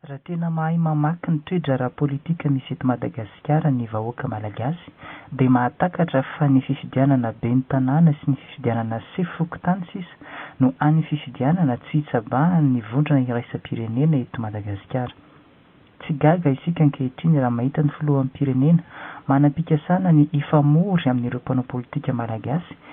Raha tena mahay mamaky ny toe-draharaha politika misy eto Madagasikara ny vahoaka Malagasy dia mahatakatra fa ny fifidianana ben'ny tanàna sy ny fifidianana sefo fokontany sisa no any fifidianana tsy hitsabahan ny vondrona iraisam-pirenena eto Madagasikara. Tsy gaga isika ankehitriny raha mahita ny filoham-pirenena manam-pikasana ny hifamory amin'ireo mpanao politika Malagasy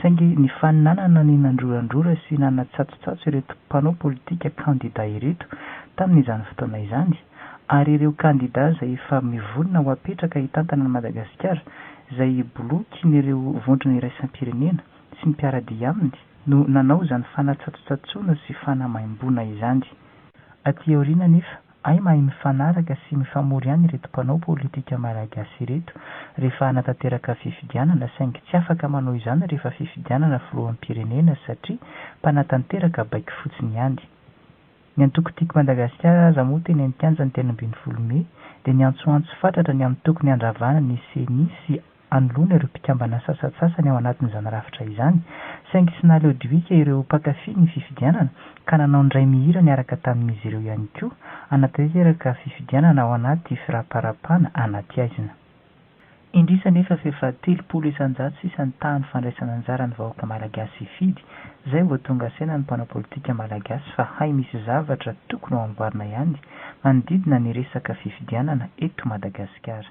Saingy ny faninanana ny nandrorandrora sy nanatsatsotsatso ireto mpanao politika kandida ireto tamin'izany fotoana izany, ary ireo kandida izay efa mivonona ho apetraka hitantana an'i Madagasikara, izay bolokin'ireo vondrona iraisam-pirenena sy ny mpiara-dia aminy, no nanao izany fanatsatsotsatsoana sy fanamaimboana izany. Aty aoriana anefa, Hay mahay mifanaraka sy mifamory ihany ireto mpanao politika Malagasy ireto rehefa hanatanteraka fifidianana saingy tsy afaka manao izany rehefa fifidianana filoham-pirenena satria mpanatanteraka baiko fotsiny ihany. Ny antoko Tiako Madagasikara aza moa teny an-kianja ny telo ambin'ny folo mey dia niantsoantso fatratra ny amin'ny tokony handravana ny ceni sy anoloana ireo mpikambana sasantsasany ao anatin'izany rafitra izany, saingy tsy nahaleo diloika ireo mpankafy ny fifidianana ka nanao ny ray mihira niaraka tamin'izy ireo ihany koa hanatanteraka fifidianana ao anaty firaparapana anaty haizina. Indrisy anefa fa efa telopolo isan-jato sisa ny tahan'ny fandraisana anjara ny vahoaka malagasy hifidy, izay vao tonga saina ny mpanao politika malagasy fa hay misy zavatra tokony ho amboarina ihany manodidina ny resaka fifidianana eto Madagasikara.